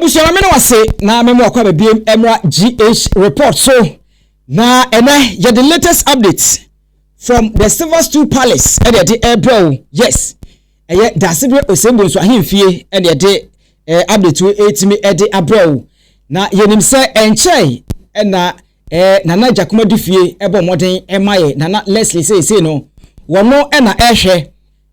Abusua ma me ne wase na me mmoa kwa babiem mmra GH report so na ɛnɛ yɛ the latest update from the silver stool palace ɛde ɛde ɛbrɛ o yes ɛyɛ daasebere osembue nso ahemfie ɛde ɛde ɛɛ update wo ɛtumi ɛde abrɛ o na yɛnim sɛ ɛnkyɛn ɛna ɛɛ nana gyakomadi fie ɛbɔ mmɔden ɛma yɛ nana leslie seesei no wɔn ɛna ɛhwɛ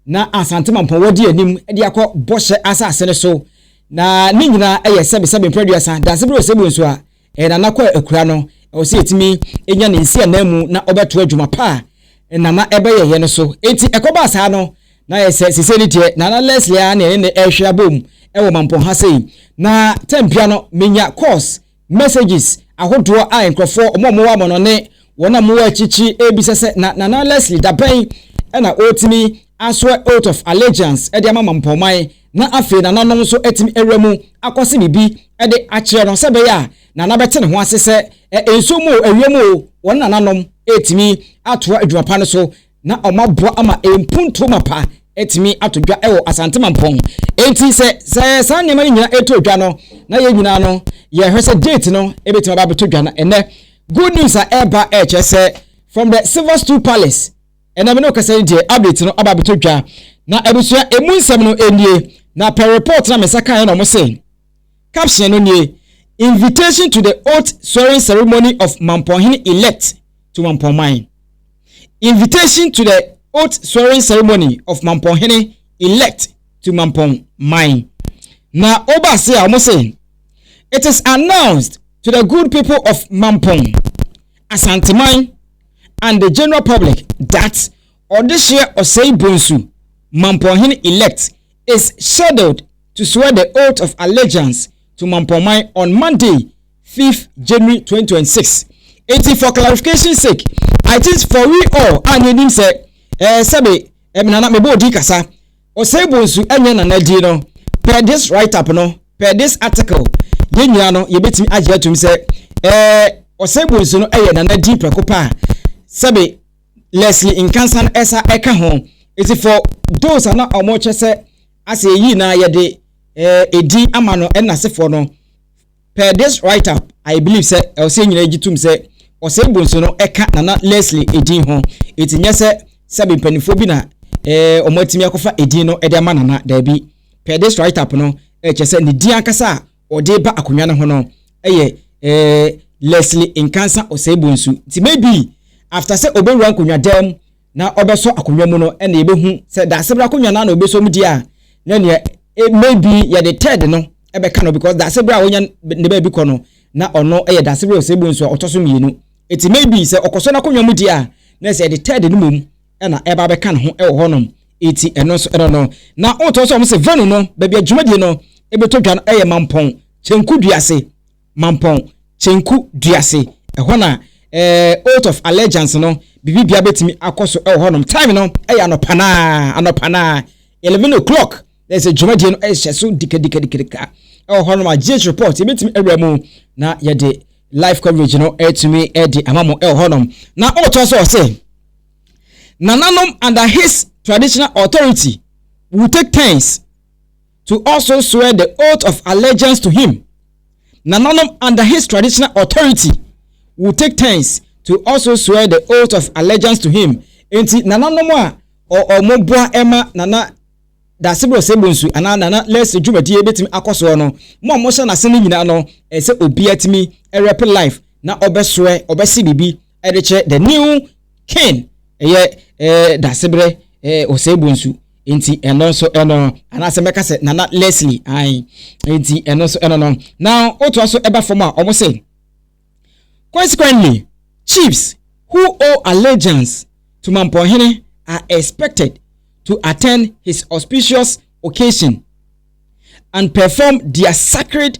Na Asante Mampɔn wɔ di anim de akɔ Bɔhyɛ Asase no so, na ne nyinaa yɛ sɛbe sɛbe mpere aduasa. Dansebere Osebue nso a, ɛyɛ Nana Kwaa akuraa no, ɛwɔ sɛ yɛtumi nya ne nsi anan mu na ɔbɛtoa dwuma pa a Nana ɛbɛyɛ yɛ no so. Enti ɛkɔbaa saa no, na ayɛ sɛ sesei ne deɛ Nana Leslie ara ne yɛne no ɛrehwere abom wɔ Mampɔn ha sei. Na tɛmpia no, menya course. Messages ahodoɔ a nkorɔfoɔ wɔn a wɔwɔ amɔnɔ ne wɔn a wɔwɔ akyirikyiri rebisa sɛ na Nana Leslie dabɛn na ɔretumi asoɛ Oath of Allegiance de ama Mampɔnman na afei Nananom nso atumi awura mu akɔse biribi de akyerɛ no sɛ ɛbɛyɛ a Nana bɛte ne ho ase sɛ nsuo mu o, ɛwia mu o, wɔne Nananom retumi atoa adwuma pa no so. na wɔaboa ama mpuntuo mapa atumi ato dwa wɔ Asante Mampɔn. Enti sɛ sɛ saa nneɛma no nyinaa ɛtɔ dwa no, na yɛn nyinaa no yɛhwɛ sɛ date no ɛbɛtumi aba abɛtɔ dwa no. Ɛnɛ good news a ɛreba ɛkyerɛ sɛ from the Silver Stool Palace ɛnɛ me ne ɔkasa yi deɛ update no aba abɛtɔ dwa na abusua ɛmu nsɛm no ɛnie na per report na me nsa kaeɛ na wɔn se caption no nie invitation to the oath swearing ceremony of Mampɔnhene elect to Mampɔn man. Invitation to the oath swearing ceremony of Mampɔn hene elect to Mampɔn man. Na ɔba ase a wɔn se, It is announced to the good people of Mampɔn, Asanteman and the general public that Ɔdehyeɛ Ɔsɛe Bonsu, Mampɔn hene elect, is scheduled to swear the oath of allegiance to Mampɔn man on Monday, fifth January twenty twenty six eti for clarification sake I think for we all a na enim sɛ ɛɛ eh, sɛbi ɛmi nana mebɔ odi kasa ɔsɛe bonsu ɛnyɛ nana di no per this write up no per this article yɛn nyinaa no yɛbɛtumi agye atum sɛ ɛɛ eh, ɔsɛe bonsu no ɛyɛ nana di prɛko paa sɛbi Leslie Nkansan ɛsa ɛka ho eti for those a na wɔn kyɛ sɛ asɛ eyi na yɛde ɛɛ eh, edi ama no ɛna asefoɔ no. Per this write up, I believe sɛ ɛwɔ sɛ yɛn nyinaa gye tom sɛ ɔsɛe bonsu no ka Nana Leslie edin ho. Enti nyɛ sɛ sɛbe mpaninfoɔ bi na eh, wɔn atumi akɔfa edin no de ama Nana. Daabi. Per this write up no, eh, kyerɛ sɛ ne din ankasa a ɔde ba akonnwa no ho no yɛ eh, Leslie Nkansa Ɔsɛe Bonsu. Nti maybe after sɛ ɔbɛwura nkonnwa dan mu, na ɔbɛsɔ akonnwa mu no na yɛbɛhu sɛ Daasebra akonnwa no ara na ɔbɛsɔ mu di a, na nea eh, maybe yɛde third no bɛka no because Daasebra a wɔnya ne baabi kɔ no, na ɔno yɛ Daasebra Oseibu nso a ɔtɔ so mmienu. Eti maybe sɛ ɔkɔsɔ n'akonnwa mu di a, na ɛsɛ yɛde third no mmom na ɛba bɛka ne ho wɔ hɔnom. Eti ɛno nso ɛno no. Na wotɔ sɛ wɔn se venue no, baabi a dwumadie no ɛbɛtɔ dwa no ɛyɛ Mampɔn, Kyenku dua ase. Mampɔn, Kyenku dua ase, ɛhɔ na eh, Oath of Allegiance no, biribi bia bɛtumi akɔ so wɔ hɔnom. Time no ɛyɛ anɔpa no ara, anɔpa no ara, 11 o'clock, na ɛsɛ dwumadie no ɛhyɛ so dikadikadikadika ɛwɔ hɔnom a GH report yɛbɛtumi awura mu na yɛde live coverage no ɛtumi ɛde ama mo ɛwɔ hɔnom. Na ɔtɔ so ɔsɛ, nananom under his traditional authority will take turns to also swear the oath of allegiance to him, Nananom under his traditional authority would take turns to also swear the oath of allegiance to him. Enti nananom a wɔn boa ma Nana Daseboro Osei-Bonsu anaa Nana Leslie dwumadie bɛtumi akɔ soɔ no, mo a mohyɛ n'ase no nyinaa no, ɛsɛ obiara tumi rep life na ɔbɛsoɛ, ɔbɛse biribi ɛde kyerɛ the new king ɛyɛ ɛɛ dasebrɛ ɛɛ ɔsɛɛbo nsu nti ɛno nso ɛno no anaasɛ mɛka sɛ nana leslie ayi nti ɛno nso ɛno no na otoa so ɛba fam a wɔn sɛ consequently chiefs who owe allegiance to mampɔnhene are expected to attend his auspicious occasion and perform their sacred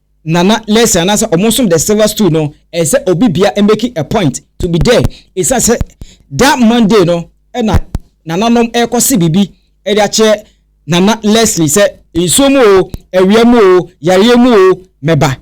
Nana Lessie anaasɛ ɔmo som the silver stool no ɛyɛ sɛ obi bia make a point to be there ɛsiane sɛ that Monday no ɛna nananom ɛkɔ se biribi ɛde akyerɛ Nana Leslie sɛ nsuo mu oo, awia mu oo, yareɛ mu oo mɛba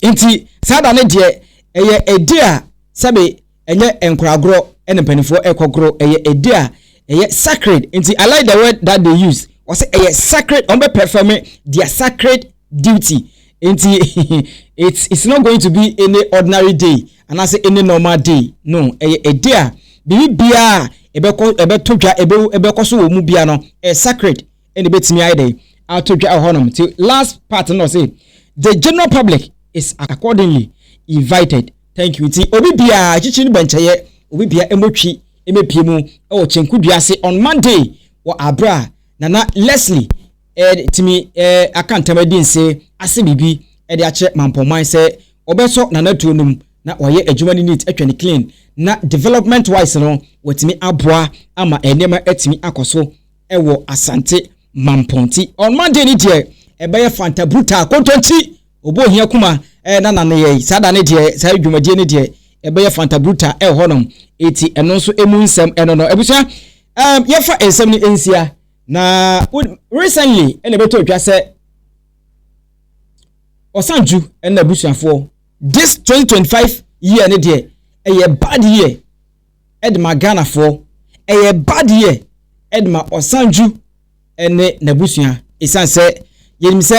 nti saa da no deɛ ɛyɛ a day a sɛbe Ɛnyɛ nkoragorɔ na mpanimfoɔ rekɔ goro, ɛyɛ ɛdi a ɛyɛ sacred. Nti I like the word that they use, wɔse ɛyɛ sacred, wɔn bɛ performe their sacred duty. Nti it's, it's not going to be any ordinary day, anaasɛ any normal day, no, ɛyɛ ɛdi a biribi biara a ɛbɛkɔ ɛbɛto dwa ɛbɛ ɛbɛkɔ so wɔ mu bia no, ɛyɛ sacred, ɛna ɛbɛtumi ayɛ dɛ ato dwa wɔ hɔnom. Nti last part no ɔse the general public is accordingly invited. Thank you nti obi biaa akyikyiri no bɔ nkyɛyɛ obi bia ɛmɔ twi ɛmɛ pie mu ɛwɔ kyenku dua ase on Monday wɔ aberɛ a Nana Leslie ɛɛ tumi ɛɛ aka ntam ɛdi nse ase biribi ɛde akyerɛ Mampɔnman sɛ ɔbɛ sɔ Nana tuo nom na wayɛ adwuma no neat atwa no clean na development wise no watumi aboa ama nneɛma atumi akɔ so ɛwɔ Asante Mampɔn nti on Monday no deɛ ɛbɛyɛ Fanta Brutal Kontonkyi Ɔbɔ ohia kuma eh, na na neyɛe saa da no deɛ saa dwumadie no deɛ ɛbɛyɛ fanta bruta eh, hɔ nom eti ɛno nso emu nsɛm ɛno no abusua eh, yɛfa nsɛm no nsia na recently ɛna ɛbɛtɔ otwa sɛ ɔsanju ɛna abusuafoɔ this 2025 year no deɛ ɛyɛ bad year de ma Ghanafoɔ, ɛyɛ bad year de ma Ɔsandju ne n'abusua ɛsiane sɛ yɛnim sɛ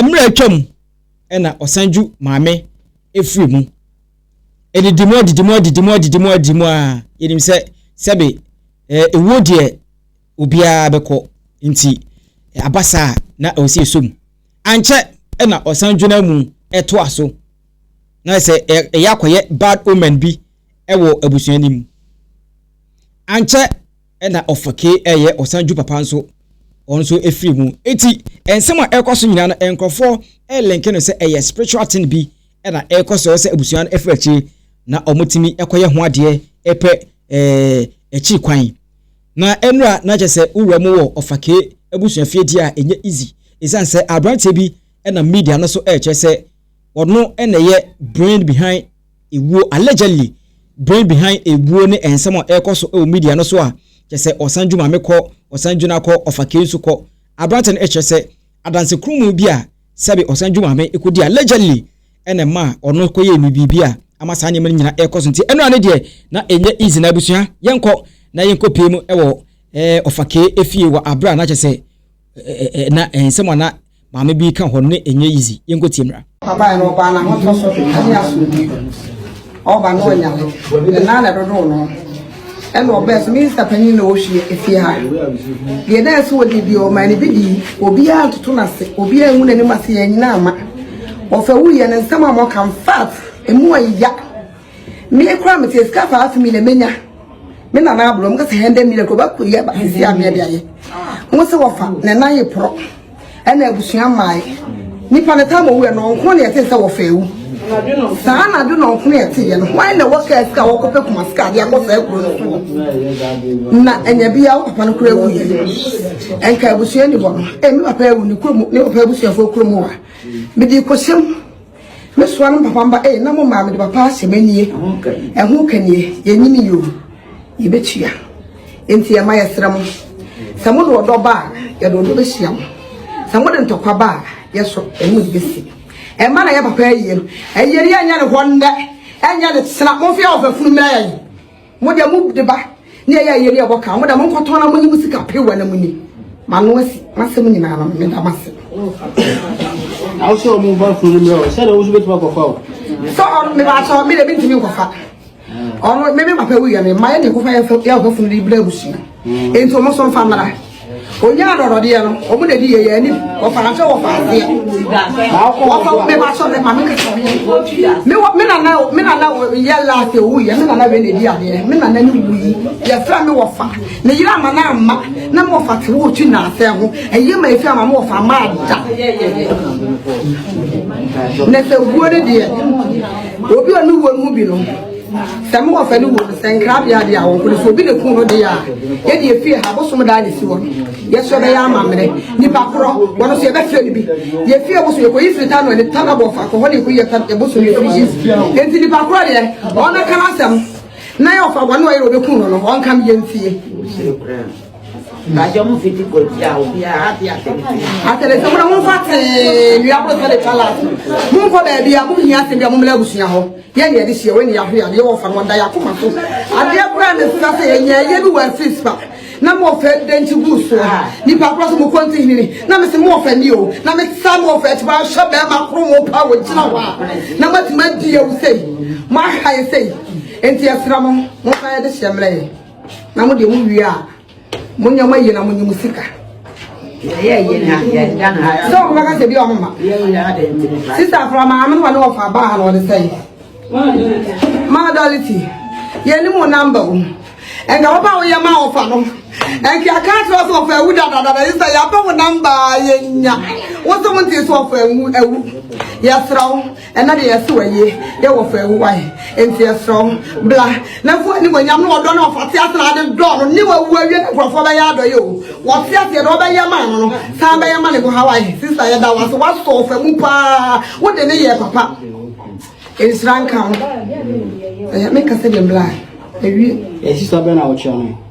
mmerɛ atwa mu na Ɔsandju maame ɛfiri mu. Ɛdidi mu adidi mu adidi mu adidi mu adidi mu a yɛnim sɛ sɛbe ɛwuo deɛ obiara bɛkɔ nti aba saa na ɛwɔ sɛ yɛsɔ mu. Ankyɛ na Ɔsandju no amu ɛtoa so. na sɛ ɛyɛ akɔyɛ bad omen bi wɔ abusua no mu. Ankyɛ na ɔfake ɛyɛ ɔsan ju papa nso ɔno nso efiri mu. Eti nsɛm a ɛkɔ so nyinaa no nkorɔfoɔ ɛlenke no sɛ ɛyɛ spiritual thing bi ɛna ɛkɔ so sɛ abusua no ɛfiri akyire na wɔn tumi ɛkɔyɛ ho adeɛ ɛpɛ ɛɛ akyiri kwan. Na ɛnura na kyɛ sɛ wura mu wɔ ɔfake abusua fie deɛ a ɛnyɛ easy. Esan sɛ aberanteɛ bi ɛna media no so ɛkyɛ sɛ ɔno na ɛyɛ brain behind ewuo, allegedly brain behind ewuo ne nsɛm a ɛrekɔ so wɔ media no so a, kyerɛ sɛ ɔsan dwu maame kɔ, ɔsan dwu na kɔ, ɔfa kei nso kɔ. Aberante no kyerɛ sɛ adanse kronn bi a sɛbe ɔsan dwu maame kɔdi allegedly na ɛmaa ɔno kɔyɛɛ ne biribi a ama saa nneɛma no nyinaa ɛrekɔ so. Nti ɛno a ne deɛ na ɛnyɛ easy na abusua yɛnkɔ na yɛnkɔ pie mu wɔ ɔfa kei efie wɔ aberɛ a na kyerɛ sɛ na nsɛm a na Maame bi ka hɔ ne ɛnyɛ easy. Yɛnkɔtie mmra. Ɔbaeɛ no, ɔbaa no ahotɔso ne asomdwie. Ɔba no ɔnya no, ne nan na ɛdodoo no. Ɛna ɔbɛɛ sɛ minista panyin na ɔhwie efie ha. Deɛ na ɛsɛ ɔdi deɛ ɔmaa no bi di. Obiara ntoto n'ase, obiara ngu n'anim ase, yɛn nyinaa mma. Ɔfɛ wuiɛ no, nsɛm a wɔka, in fact, emu yɛ ya. Me kura me te sika five million menya. Me na na abro me kasa hende million ko ba ko ye ba kesi a me de aye. Wo se wo fa na na ye pro. Ɛna abusua mae. Nipa ne tam owu no nko na yɛte sɛ wɔfa ewu. Saa na do no nko na yɛte yɛ no. Why na wɔka asika wɔkɔ pɛ kuma sika de akɔ saa kuro no so. Na anya bi a wo papa no kura ewu yɛ. Ɛnka abusua ni hɔ no. E me papa ewu ne kuro mu ne papa abusua fo kuro mu a. Me di kɔhyɛm. Me soa no papa mba ee na mo maa mede papa ahyɛ m'anie ɛho ka nie yɛnyini yoo yɛbɛtua enti ɛma yɛsrɛ mo sɛ mo de ɔdɔ ba a yɛde ɔdɔ bɛhyia mo sɛ mo de ntɔkwa ba a yɛso ɛne mo bɛsi ɛma na yɛ papa ayie no ayie no yɛnyɛ ne hɔ nnɛ ɛnyɛ ne sena momfeɛ ɔfafunu mmerɛ yɛn Mo deɛ mo de ba ne ɛyɛ ayɛ ne ɛbɔ kaa mo da mo nkɔtɔn na mo nye mo sika pew na mo ni ma no asi masɛm nyinaa no me da mase awosɛ ɔmo ba kuro no mmerɛ sɛ na wosu bɛtumi akɔfa o sɛ ɔno me ba sɛ ɔme deɛ mentumi nkɔfa ɔno me me papa wuyɛ me mma yɛ ne nkɔfa yɛ funu de brɛ abusua Enti wɔn nso mfa mmra. Onyaa adɔdɔdeɛ no, wɔn na ɛdi yɛ yɛn anim. Wɔfa ahwɛ wɔfa aseɛ. Wɔfa wo bɛba sɔ ne ma me kasa me yɛ. Me wɔ me nana me nana yɛ last ewu yɛ me nana wɛ na ɛdi adeɛ. Me nana ne wu yi yɛfrɛ me wɔfa. Me yere ama na ama na me wɔfa te wo twi na asɛ ho. Ɛyɛ ma efi ama me wɔfa ama ada. Na sɛ wuo ne deɛ obi a ɔne wuo no mu bi no. Sɛ mowɔ fɛ no wɔ no sɛ nkrabea de a wɔn kɔno sɛ obi na kun no de a yɛde efie ha bosom daa ne si wɔ no yɛsɔ bɛyɛ amammerɛ nipa korɔ wɔn nso yɛbɛfrɛ no bi yɛfie bosom yɛkɔyi firi tano ne tana bɔ fa kɔhɔ ne yɛkɔyi yɛ bosom yɛ firi yi nti nipa korɔ deɛ wɔn bɛka no asɛm na yɛ ɔfa wɔn ɔyɛ obi kun no no wɔn kam yɛ ntie Bàjọ́ mu fi ti kò tí a ò bí a á ti àtẹ̀lẹ́sẹ̀. Àtẹ̀lẹ́sẹ̀ mu na mo fa tẹ̀ẹ́ nua kúrò sọ́dẹ̀ kálá. Mo ń kọ́ bẹ̀ẹ̀bi a mo ń yàn àtẹ̀lẹ́sẹ̀ mu ń lẹ́gùsùn yà hó. Yɛ nea yɛde hyia wɔ nea yɛahwɛ adeɛ wɔ fa no ɔda yɛn akoma so. Adeɛ koraa na ɛfira sɛ yɛn yɛn yɛ bi wɔ afis pa na mo ɔfɛ dɛnkyi gu so ha nipa kora so mo kɔnti hinini na mese mo ɔfɛ ni o na me sa mo ɔfɛ akyi ahwɛ bɛrima koro mo pa wɔ gyina hɔ a na mo atumi adi yɛ wo sei mo aha yɛ sei nti yɛsra mo mo fa yɛde hyɛ mmerɛ yɛ na mo deɛ mo wie a mo nneɛma yie na mo nye mo sika. yɛyɛ yie na yɛn dan ha. sɛ ɔmo bɛka sɛ bi ɔmo ma. yɛyɛ yie na yɛn nyini fa. sista afra maame no wa ne wɔfa baa ha na ɔde sɛn. maa dɔliti yɛn ni mo namba o nka papa a woyɛ maa ɔfa no nka aka akyerɛ sɛ ɔfa awu dadadada yi sɛ yɛapɛ wo namba yɛnya wo sɛ wonte sɛ ɔfa awu yɛsrɛ wo Ɛna deɛ yɛse w'ayie yɛ wɔ fa awu wae enti yɛsrɛ wo bra na fu animuonyam ne ɔdɔ no ɔfate asena ade dɔ no ne wawu awie ne nkurɔfoɔ bɛyɛ adɔyɛ o wɔte aseɛ deɛ ɔbɛyɛ maa no no san bɛyɛ ma ne ho ha wae sista yɛda wase wasɔ ɔfa mu paa wode ne yɛ papa nhyira nka wo ɛyɛ meka sɛ deɛ bra awie. Ɛsisa bɛ na wokyerɛ no.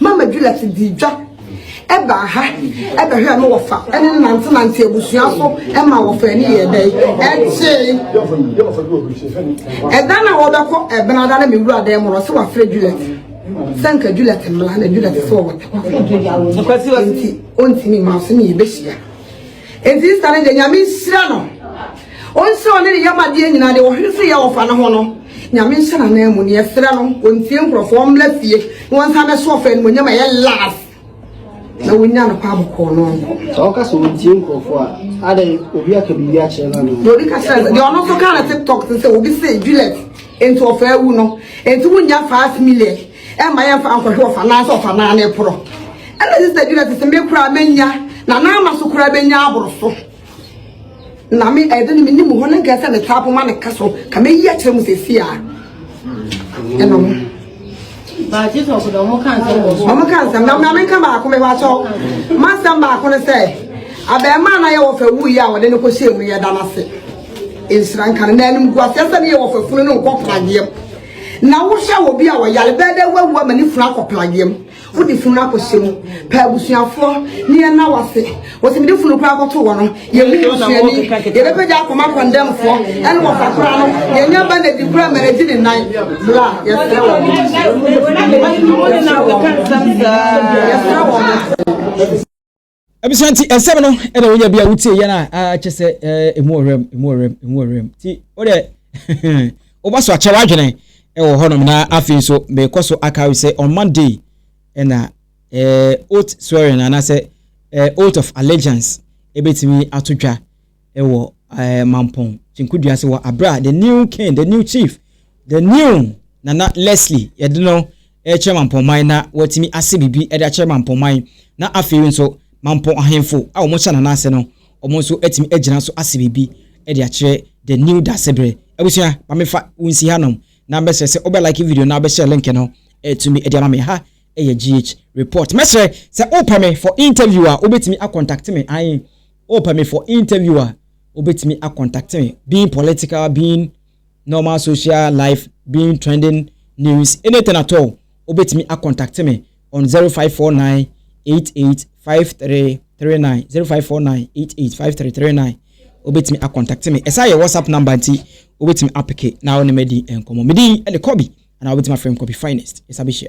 Mama Juliet dii dwa ɛbaa ha ɛbɛhwɛ no wɔfa ɛne no nante nante abusua so ɛma wɔfa ani yɛ dɛ ɛkyee ɛda na wɔbɛkɔ ɛbɛn ada na mi wura dɛm no sɛ wafrɛ Juliet sɛ nka Juliet mmla na Juliet sɛ wɔwɔ tɛkwa nti ɔntumi ma ɔsɛ ne yɛbɛhyia Enti Esther no deɛ Nyame nhyira no Ɔnhyira ɔne ne yam adeɛ nyinaa deɛ ɔhwere so yɛ ɔfa no ho no Nyame nhyɛ n'anan mu neɛ ɛserɛ no ɔntie nkorɔfoɔ ɔmmra fie na wɔnsan bɛso ɔfa animonyam a ɛyɛ love na wonya no kwa bɔkɔɔ no nkɔ. sɛ ɔka sɛ ɔntie nkurɔfoɔ a adɛ obi aka biribi akyerɛ no ano na obi ka kyerɛ sɛ deɛ ɔno nso ka na tiktok te sɛ obi sɛ juliet nti ɔfa awu no nti wonya 5 million Ɛmma yɛmfa nkɔhwɛ ɔfanaa sɛ ɔfanaa no reporɔ. Ɛna Sista Juliet se, Me koraa mɛnya, na n'ama so koraa bɛnya aboro so. Na me ɛde no menim hɔ no nkɛɛ sɛ me tapo ma ne ka so, ka mɛyi akyerɛ mu sɛsi a. Ɛna ɔmo. Ɔmo ka nsɛm, na maame nka baako mɛ hɔ akyɛw. Ma nsɛm baako no sɛ, abɛɛmaa na yɛ wɔ fɛ wuyi a wɔde no kɔ hyɛ mu yɛ da no ase. Nhyira nka no, na anim gu aseɛ sɛ ne yɛ wɔ fɛ funu no nkɔ pradeɛ. Na wohwɛ wɔ bi a wɔyare bɛyɛ dɛ wawu ama ne funu akɔ plageɛ mu wode funu no akɔhyɛ mu pɛ abusuafoɔ ne yɛn na wase wɔsɛ mede funu koraa kɔto wɔ no yɛmu busuani yɛbɛpɛgya akɔma kɔndɛmfoɔ ɛne wɔfa koraa no yɛnya ba na di koraa ma nagye ne nan bla yɛsrɛ wɔ yɛsrɛ wɔ abusua nti nsɛm no ɛna wonya bi a wotie yɛn a akyɛ sɛ ɛmu ɔwerɛm ɛmu ɔwerɛm ɛmu ɔwerɛm nti wode woba so akyɛ w'adwene ɛwɔ hɔnom na afei nso mekɔ so akawe sɛ on monday ɛna oath swearing anaasɛ oath of allegiance ɛbɛtumi ato dwa wɔ ɛɛ Mampong kyenkudua ase wɔ abere a the new king, the new chief, the new Nana Leslie yɛde no rekyerɛ Mampong man na watumi ase biribi de akyerɛ Mampong man na afei nso Mampong ahenfo a wɔn hyɛ Nana ase no wɔn nso atumi agyina so ase biribi de akyerɛ the new Dasebere abusua ma mefa wonsi hanom na bɛsrɛ sɛ wobɛ like video na wobɛhyɛ link no ɛtumi de ama me ha ɛyɛ GH report mɛsrɛ sɛ wopɛ me for interview a wobɛtumi akɔntakte me ae Oh pɛ me for interview a wobɛtumi a contact me being political being normal social life being trending news anything at all wobɛtumi a contact me on zero five four nine eight eight five three three nine zero five four nine eight eight five three three nine wobɛtumi a contact me ɛsan yɛ whatsapp number nti wobɛtumi apeke na wo ne madi nkɔmmɔ medin ɛne kɔbi anaa wobɛtumi afrɛ me kɔbi finest yɛsa bɛhyia.